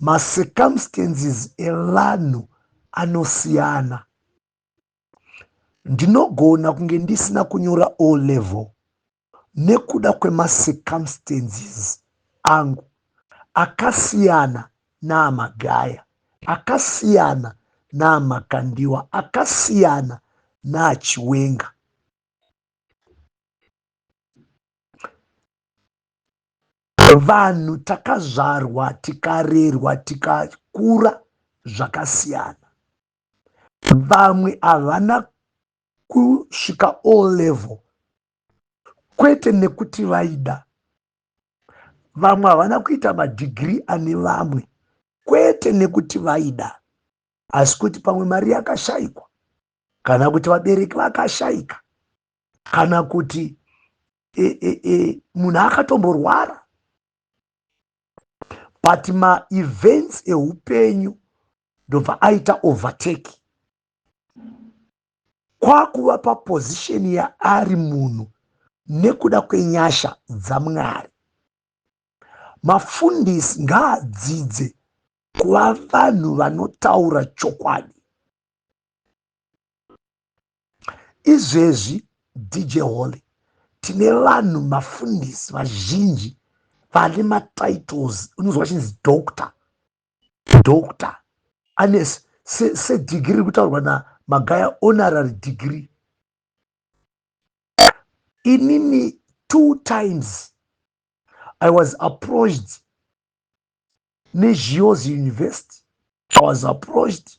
macircumstances evanhu anosiyana ndinogona kunge ndisina kunyora o level nekuda kwemacircumstances angu akasiyana naamagaya akasiyana naamakandiwa akasiyana naachiwenga Vanhu takazvarwa tikarerwa tikakura zvakasiyana. Vamwe havana kusvika o level kwete nekuti vaida vamwe havana kuita madhigiri ane vamwe kwete nekuti vaida asi kuti pamwe mari yakashaikwa kana kuti vabereki vakashaika kana kuti e, e, e, munhu akatomborwara but maevents eupenyu ndobva aita overtake kwakuva paposition yaari munhu nekuda kwenyasha dzamwari mafundisi ngaadzidze kuva vanhu vanotaura chokwadi izvezvi dj holy tine vanhu mafundisi vazhinji vane matitles unozwa chinzi doctor doctor ane sedigiri se kutaurwa namagaya honorary degree inini two times i was approached nezhiozi university i was approached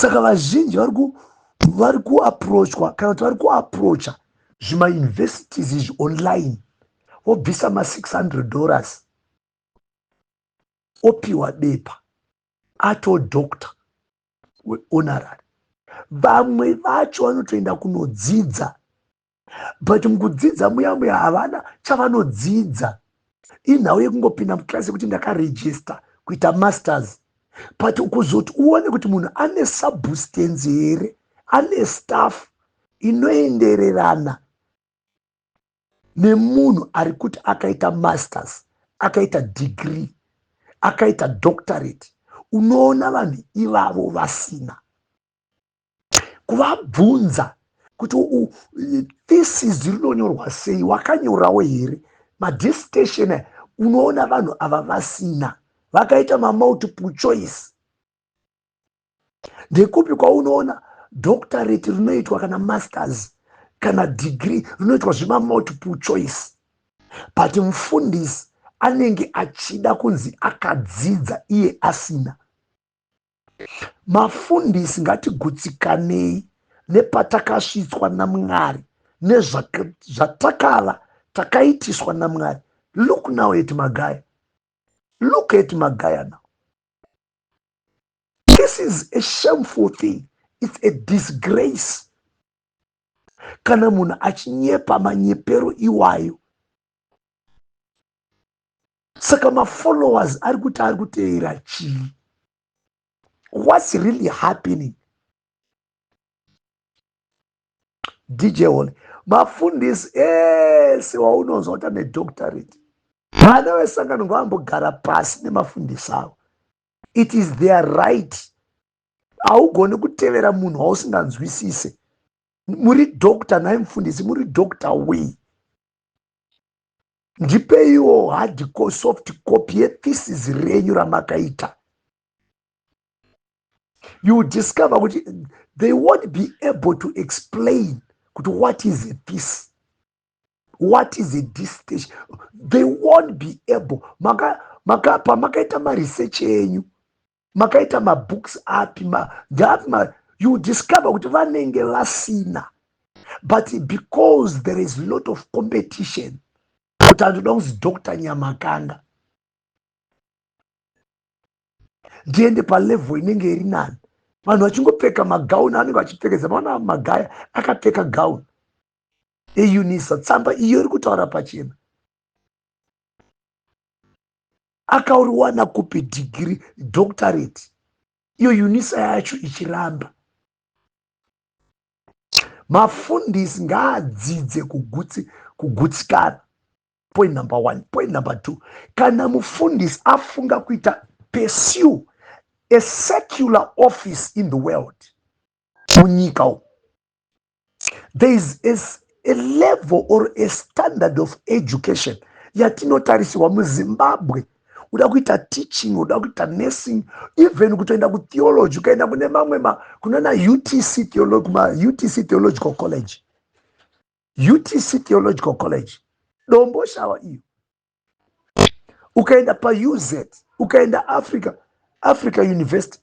saka vazhinji vari ku vari kuaprochwa kana kuti vari kuaprocha zvimauniversities izvi online wobvisa ma600 dollars opiwa bepa ato doctor weonarary vamwe vacho vanotoenda kunodzidza but mukudzidza muya muya havana chavanodzidza inhau yekungopinda muclass yekuti ndakaregister kuita masters but kuzoti uone kuti munhu ane substance here ane staff inoendererana nemunhu ari kuti akaita masters akaita degree akaita doctorate unoona vanhu ivavo vasina kuvabvunza kuti thesis rinonyorwa sei wakanyorawo here madistation aya unoona vanhu ava vasina vakaita mamultiple choice ndekupi kwaunoona doctorate rinoitwa kana masters kana degree rinoitwa zvemamultiple choice but mufundisi anenge achida kunzi akadzidza iye asina mafundisi ngatigutsikanei nepatakasvitswa namwari nezvatakava takaitiswa namwari look now at magaya look at magaya now this is a shameful thing it's a disgrace kana munhu achinyepa manyepero iwayo saka mafollowers ari kuti ari kuteera chii whats really happening dj hole mafundisi ese waunonzwa kuti ane doctorate vana vesangano ngavambogara pasi nemafundisi avo it is their right haugoni kutevera munhu wausinganzwisise muri doctor nhai mufundisi muri doctor wei ndipeiwo hard soft copy yethesis renyu ramakaita you discover kuti they won't be able to explain kuti what is a thesis what is a distation they won't be able maka maka pamakaita maresearch enyu makaita mabooks api ma, ndaapi ma, you discover kuti vanenge vasina but because there is lot of competition kuti andoda kunzi dr nyamakanga ndiende palevel inenge iri nani vanhu vachingopfeka magauni anenge vachipfekedza maona magaya akapfeka gauni eunisa tsamba iyo iri kutaura pachena akauriwana kupi dhigiri doctorate iyo unisa yacho ichiramba mafundisi ngaadzidze kugutsi kugutsikana point number one point number two kana mufundisi afunga kuita pursue a secular office in the world munyika umu there is a, a level or a standard of education yatinotarisirwa muzimbabwe uda kuita teaching uda kuita nursing even kutoenda kutheology ukaenda kune mamwe kunana utc theology, kuma utc theological college utc theological college dombo shawa iyo ukaenda pauz ukaenda africa africa university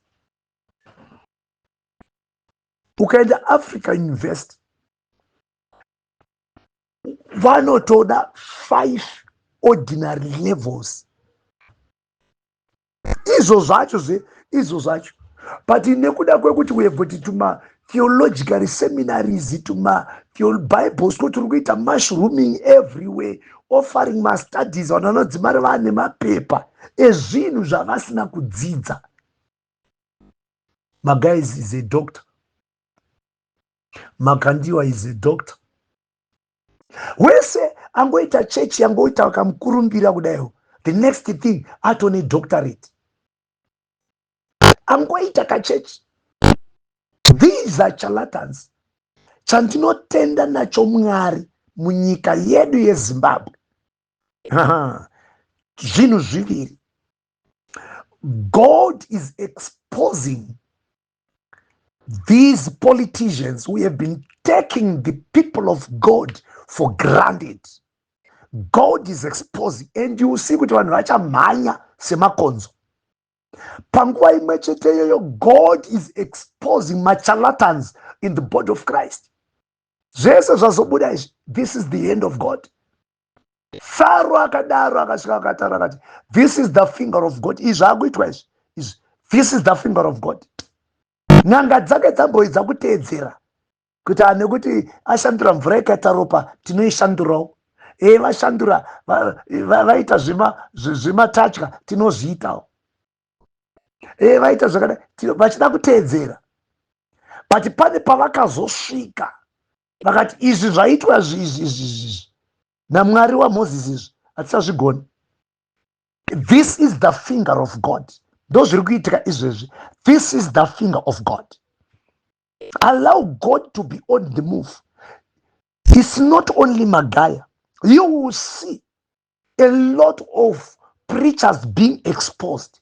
ukaenda africa university vanotoda five ordinary levels izvo zvacho zve izvo zvacho but nekuda kwekuti wevoti tuma theologically seminaries tuma bible school tiri kuita mushrooming everywhere offering mastudies vanhu vanodzimari vane mapepa ezvinhu zvavasina kudzidza Magaiz is a doctor. Makandiwa is a doctor. Wese angoita chechi yangoita akamukurumbira kudaiwo. The next thing atone doctorate. Angoita kachechi. These are charlatans. Chandinotenda nacho Mwari munyika yedu yeZimbabwe. Zvinhu zviviri. God is exposing these politicians who have been taking the people of God for granted. God is exposing and you see kuti vanhu vachamhanya semakonzo. Panguva imwe chete iyoyo God is exposing machalatans in the body of Christ. Zvese zvazobuda izvi, this is the end of God. faro akadaro akasvika akataura akati this is the finger of god izvi akuitwa izvi izvi this is the finger of god n'anga dzake dzamboidza kuteedzera kuti ane kuti ashandura mvura yakaita ropa tinoishandurawo e eh, vashandura vaita zvimatatya tinozviitawo e eh, vaita zvakadai vachida kuteedzera but pane pavakazosvika vakati izvi zvaitwa zvizvizvizvi namwari wamoses izvi hatisazvigoni this is the finger of god ndozviri kuitika izvezvi this is the finger of god allow god to be on the move its not only magaya you will see a lot of preachers being exposed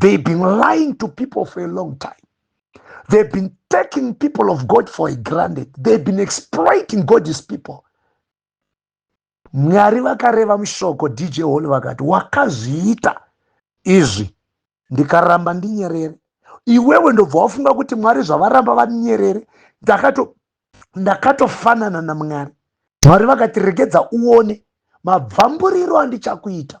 They've been lying to people for a long time. They've been taking people of God for a granted. They've been exploiting God's people. Mwari vakareva mushoko DJ Hall vakati wakazviita izvi ndikaramba ndinyerere. Iwewe ndobva wafunga kuti Mwari zvavaramba vanyerere. Ndakato ndakatofanana naMwari. Mwari vakati regedza uone mabvamburiro andichakuita.